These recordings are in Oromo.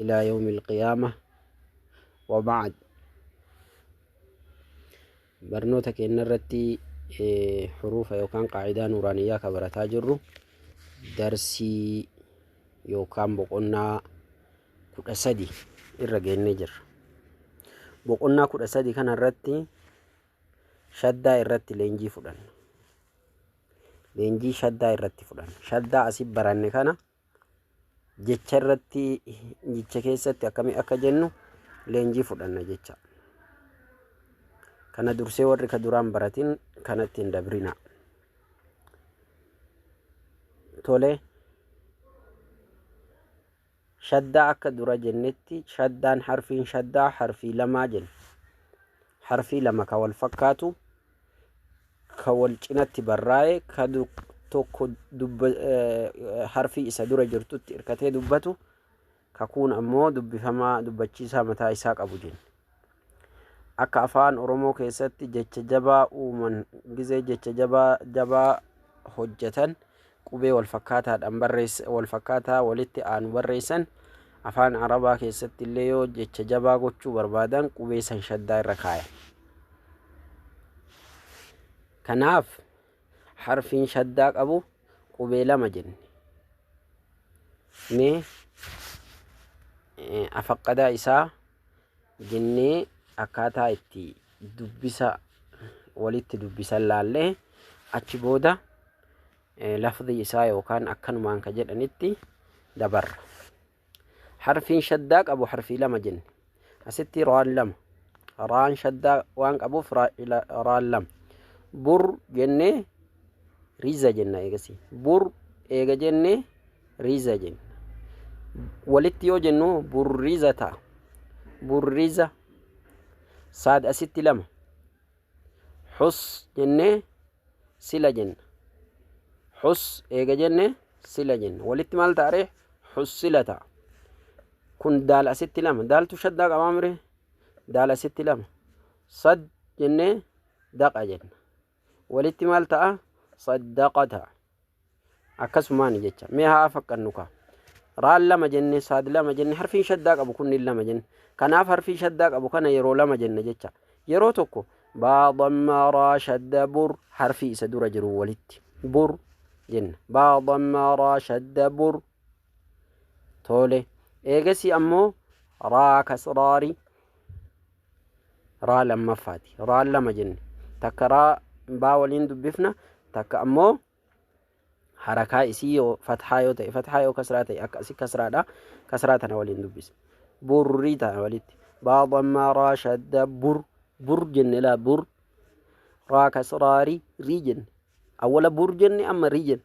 ilaa yawmi alqiyaama wa ba'ad barnoota keenya irratti huruufa yookaan qaacidaa nuuraaniyyaa ka barataa jirru darsii yookaan boqonnaa kudha sadi irra geennee jirra boqonnaa kudha sadi kana irratti shaddaa irratti leenjii fudhanna leenjii shaddaa irratti fudhanna shaddaa asi baranne kana jecha irratti jecha keessatti akkamii akka jennu leenjii fudhanna jecha. Kana dursee warri ka duraan baratin kanatti hin dabrina. Tole shaddaa akka dura jennetti shaddaan harfiin shaddaa harfii lamaa jenna. Harfii lama ka wal fakkaatu ka wal cinatti barraa'e ka tokko harfii isa dura jirtutti irkatee dubbatu kakuun ammoo dubbifamaa dubbachiisaa mataa isaa qabu jenna. Akka afaan Oromoo keessatti jecha jabaa uuman gizee jecha jabaa jabaa hojjetan qubee walfakkaataadhaan barreessa walfakkaataa walitti aanu barreessan afaan arabaa keessatti illee yoo jecha jabaa gochuu barbaadan qubee san shaddaa irra kaayan kanaaf harfiin shaddaa qabu qubee lama jenne mee afaqqadaa isaa jennee akkaataa itti dubbisa walitti dubbisan laallee achi booda lafdii isaa yookaan akkanumaan ka jedhanitti dabarra. Harfiin shaddaa qabu harfii lama jenne. Asitti raan lama. Raan shaddaa waan qabuuf raan lama. Bur jennee riza jenna eegasii. Bur eega jennee Riza jenna. Walitti yoo jennu burriza ta'a. Burriza. Saad asitti lama. Hus jennee sila jenna. Hus eega jenne sila jenna. Walitti maal ta'a ree? Hus sila ta'a. Kun daal asitti lama. Daaltu shaddaa qabaa mire? Daal asitti lama. Sad jennee daqa jenna. walitti maal ta'a saddaqata akkasumaan jecha mee haa fakkadnu ka raan lama jenne saad lama jenne harfiin shaddaa qabu kunniin lama jenne kanaaf harfii shaddaa qabu kana yeroo lama jenne jecha yeroo tokko baa damma raa shadda bur harfii isa dura jiru walitti bur jenna baa damma raa shadda bur toole eegasii ammoo raa kasraari raa lammaffaati raa lama jenne takka raa baa waliin dubbifna takka ammoo harakaa isii yoo fathaa yoo ta'e fathaa yoo kasraa ta'e akka asi kasraadha kasraa tana waliin dubbisa burrii tana walitti baa dhammaa raa shadda bur bur jenne laa bur raa kasraari rii jenne awwala bur jenne amma rii jenne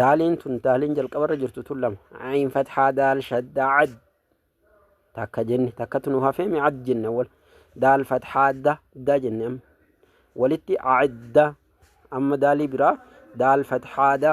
daaliin tun daaliin jalqabarra jirtu tun lama ayin fathaa daal shaddaa ad takka jenne takkatu nu hafee mi ad jenne wal daal fathaa da da jenne amma walitti adda amma daalii biraa daal fathaa da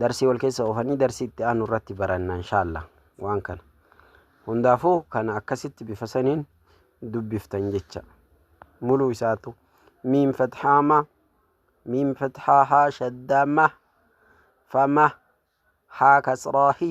Darsii wal keessa oofanii darsii itti aanu irratti baranna inshaalla waan kana. Hundaafuu kana akkasitti bifa saniin dubbiftan jecha. Muluu isaatu miim fathaa ma miim fathaa haa shaddaa ma fama haa kasraa hi.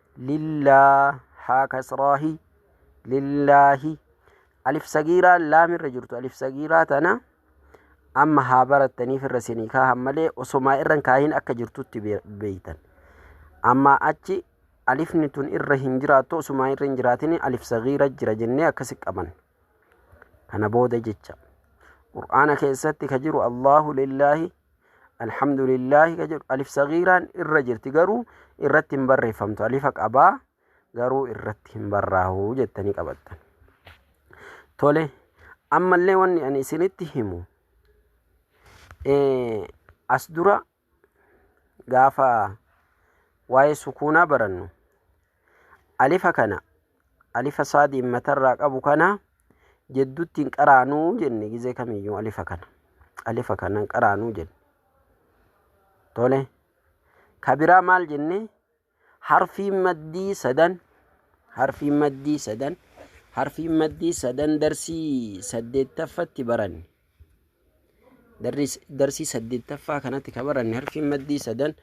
lillaa haa kasraahi lillaahi alif sagiiraa laam irra jirtu alif sagiiraa tana amma haa barattaniif irra sinii kaahan malee osomaa irran kaahin akka jirtutti be- beeytan amma achi alifni tun irra hin jiraattu osumaa irra hin jiraatin alif sagiira jira jennee akkasi qaban kana booda jecha qur'aana keessatti ka jiru allahu lillaahi alhamdulillaahi ka jedhu alif sagiiraan irra jirti garuu irratti hin barreeffamtu alifa qabaa garuu irratti hin barraahu jettanii qabattan tole ammallee wanni ani isinitti himu eh, as dura gaafa waa'ee sukuunaa barannu Alifa kana alifa saadiin matarraa qabu kana jeddutti hin qaraanuu jenne gizee kamiyyuu alifa kana alifa kana hin qaraanuu jenne tole kabiraa maal jenne harfiin maddii sadan harfiin maddii sadan harfiin maddii sadan darsii saddeettaffatti baranne Darsii saddeettaffaa kanatti kan baranne harfiin maddii sadan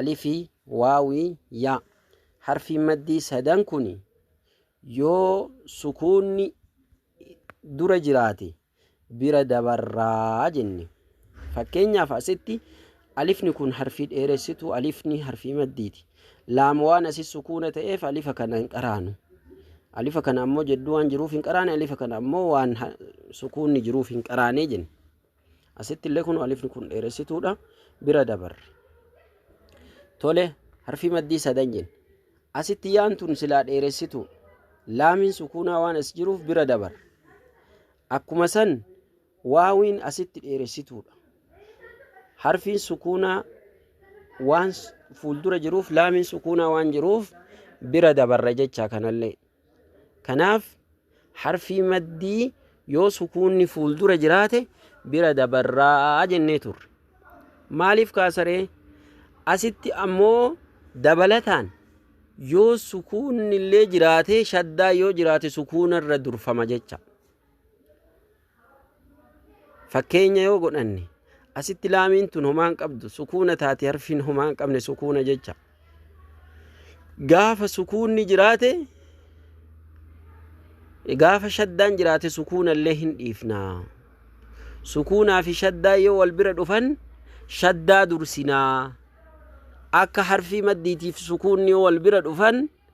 alifii, waawii, yaa. Harfiin maddii sadan kun yoo sukuunni dura jiraate bira dabarraa jenne. Fakkeenyaaf asitti Alifni kun harfii dheeressituu alifni harfii maddiiti. Laam waan asi sukuuna ta'eef alifa kana hin qaraanu. Alifa kana ammoo jedduu waan jiruuf hin qaraane alifa kana ammoo waan ha- sukuunni jiruuf hin qaraane jenna. Asitti illee kun alifni kun dheeressituudha. Bira dabarre. Tole harfii maddii sadan jenna. Asitti yaan tun silaa dheeressituu. Laamiin sukuunaa waan as jiruuf bira dabarre. Akkuma san Waawiin asitti dheeressituudha. Harfiin sukuunaa waan fuuldura jiruuf laamiin sukuunaa waan jiruuf bira dabarra jecha kanallee. Kanaaf harfii maddii yoo sukuunni fuuldura jiraate bira dabarraa jennee turre. Maaliif kaasaree? Asitti ammoo dabalataan yoo sukuunni illee jiraatee shaddaa yoo jiraate sukuunarra durfama jecha. Fakkeenya yoo godhanne asitti laamiin tun homaa hin qabdu sukuuna taate harfiin homaa hin qabne sukuuna jecha. Gaafa sukuunni jiraate gaafa shaddaan jiraate sukuuna illee hin dhiifna. Sukuunaa fi shaddaa yoo wal bira dhufan shaddaa dursinaa. Akka harfii maddiitiif sukuunni yoo wal bira dhufan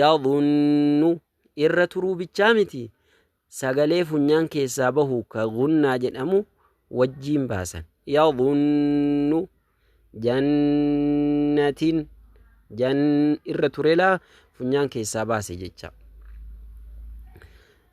yadhunnu irra turuu bichaa miti sagalee funyaan keessaa bahu ka gunnaa jedhamu wajjiin baasan yadhunnu jannatin jan irra turelaa funyaan keessaa baase jecha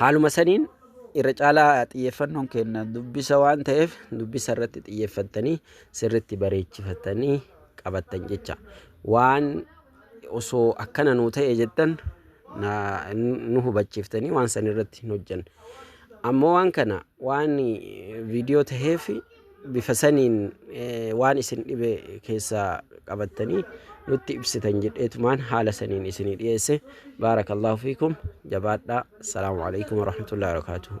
Haaluma saniin irra caalaa xiyyeeffannoon kenna dubbisa waan ta'eef dubbisa irratti xiyyeeffattanii sirritti bareechifatanii qabattan jecha. Waan osoo akkana nuu ta'e jettan nu hubachiiftanii waan san irratti hin hojjanne. Ammoo waan kana waan viidiyoo ta'eef bifa saniin waan isin dhibe keessaa qabattanii nutti ibsitan jedheetumaan haala saniin isinii dhiyeesse baarakallahu fiikum jabaadhaa assalaamu alaikum warahmatullahi wabarakaatuhu